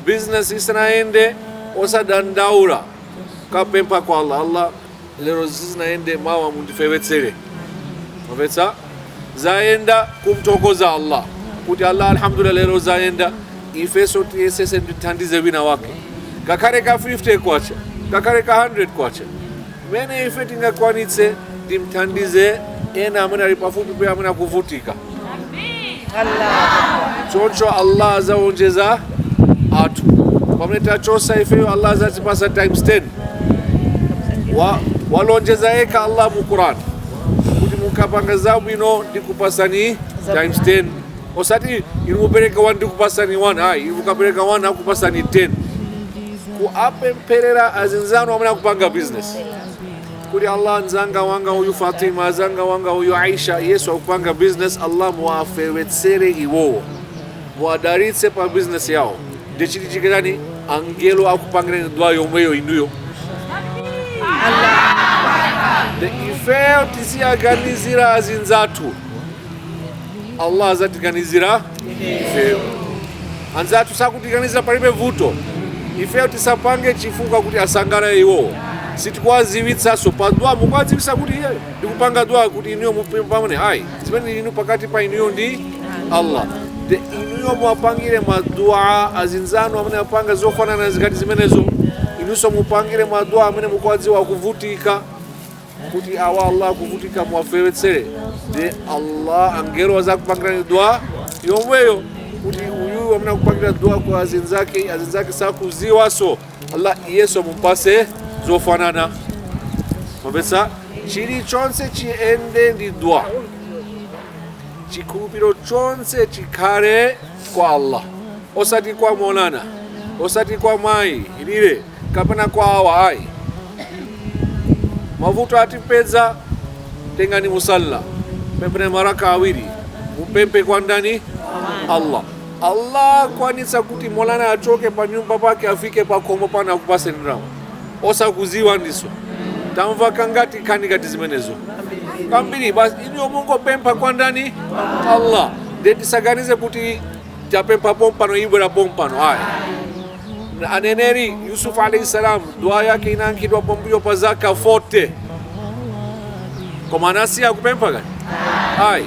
business isanayende osadandaula kapempha kwa allah allah lero sizinayende mawa mundifewetsere mapetsa zayenda kumthokoza allah kuti allah alhamdulillah lero zayenda ifeso tiyesese ndithandize wina wake ngakhale ka 50 kwacha ngakhale ka 100 kwacha Mmene ife tingakwanitse, ndimthandize ena amene ali pafupi pena amene akuvutika. Choncho Allah azawonjezera pamene tachosa ifeyo, Allah azatipasa times 10. Walonjeza yekha Allah mu Quran kuti mukapanga zabwino ndikupasani times 10 osati inu mupereka 1 ndikupasani 1 ayi inu mukapereka 1 akupasani 10 kuapempherera azinzanu amene akupanga business kuti allah mzanga wanga uyu fatima mzanga wanga uyu aisha iyeso akupanga business allah muwafewetsere iwowo muwadalitse pa business yawo ndiye chichitike n'chani angelo akupangirani dua yomweyo inuyo nde ifeyo tiziwaganizira azinzathu Allah azatiganizira ifeyo anzathu sakutiganizira palibe vuto ifeyo tisapange chifukwa kuti asangalale iwowo sitikuwaziwitsanso pa dua mukuwaziwitsa kuti ine ndikupanga dua kuti inuyo mupambane ayi zimene inu pakati pa inuyo ndi allah nde inuyo muwapangire madua azinzanu amene apanga zofanana ngati zimenezo inunso mupangire madua amene mukuwadziwa akuvutika kuti awa allah akuvutika muwafewetsere nde allah angelo azakupangirani dua yomweyo kuti uyu amene akupangira dua kwa azinzake azinzake sakuziwaso allah iyeso mumpase zofanana mapesa chilichonse chiyende ndi dua chikhulupiro chonse chikhale kwa allah osati kwa molana osati kwa mayi ilile kapena kwa awa ayi mavuto atipeza tengani musalla pempherani maraka awiri mupemphe kwa ndani allah allah akwanitsa kuti molana achoke pa nyumba pake afike pa khomo pano akupaseni ndalama osakuziwa ndiso tamva kangati nkhani ngati zimenezo kambiri basi inuyo mungopempha kwa ndani allah nde tisaganize kuti tapempha pompano ibwera pompano ayi Aneneri Yusuf alayhi salam dua yake inayankhidwa pambuyo pa zaka 40 koma anasiya kupempha kani ayi